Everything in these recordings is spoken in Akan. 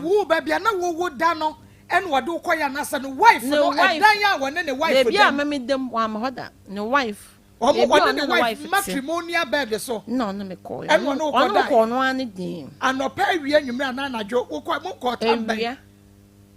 Woo baabi a na wo wo da no ɛna ɔde wo kɔ yɛ anasa ne wife no ɛdan a wɔne ne wife dam. Baabi a mɛ me dam wɔn hɔ da ne wife. Wɔn wɔne ne wife matrimonial bed so. Na ɔne me kɔ yɛ. Ɛna ɔne me kɔ ɔno ara ne den. Anɔpa awia nwumire anaa anadwo wo kɔ mo kɔ ɔtan bɛn. Awia.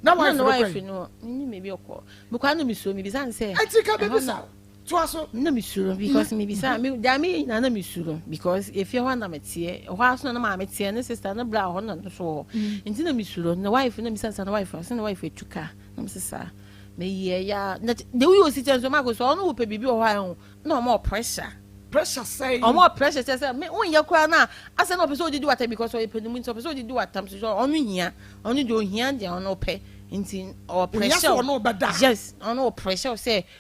Na wife no kɔ yi. Na wife no ne ne baabi ɔkɔ. Mekɔ ano me suo me bisa ne sɛ. Ɛti ka bɛ bisa. toa so. na mesuro because mebisa da me nyinaa na mesuro because efie hɔ na meteɛ ɛhɔ ara so na maame teɛ ne sista ne bra hɔ na no so hɔ mm. nti na mesuro na wife na misa sa na wife ɔsɛ na wife etu ka na mese saa meyɛ ya na de woyɛ osi kyɛn so maako so ɔno wopɛ biribi wɔ hɔ a ɛho na ɔmɔ pressure pressure sɛn ɔmɔ pressure kyɛ sɛ me wonyɛ koraa no a asɛ na ɔpɛ sɛ ɔdidi wata because ɔyɛ pɛ ne mu nti ɔpɛ sɛ ɔdidi watam so sɛ ɔno hia ɔno deɛ ɔhia deɛ ɔno pɛ nti ɔwɔ pressure yes ɔno wɔ pressure sɛ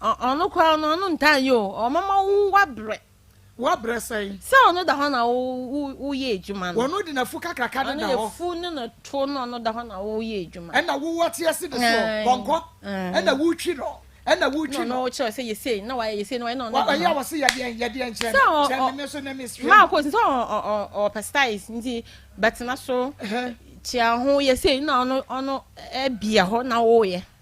Ɔno koraa no, ɔno ntaa nyɛ o. Ɔmɛma wo wabrɛ. Wabrɛ sɛn? Sɛ ɔno da hɔ na woyɛ adwuma no. Ɔno de n'afu kakraka no da hɔ. Ɔno afu ne no to no ɔno da hɔ na woyɛ adwuma. Ɛna wowɔ te ase de so pɔnkɔ. Ɛna wotwi no. Ɛna wotwi no. Na ɔno kyerɛ sɛ yɛsei na wayɛ yɛsei na wayɛ na ɔno da hɔ. Ɔyɛ wɔ se yɛdeɛn yɛdeɛn kyerɛ no. Kyerɛ me me so na mesrɛ. Maa kɔ sɛ ɔpɛ styles nti bɛtena so kyia ho yɛsei na ɔno ɔno bia hɔ na woyɛ.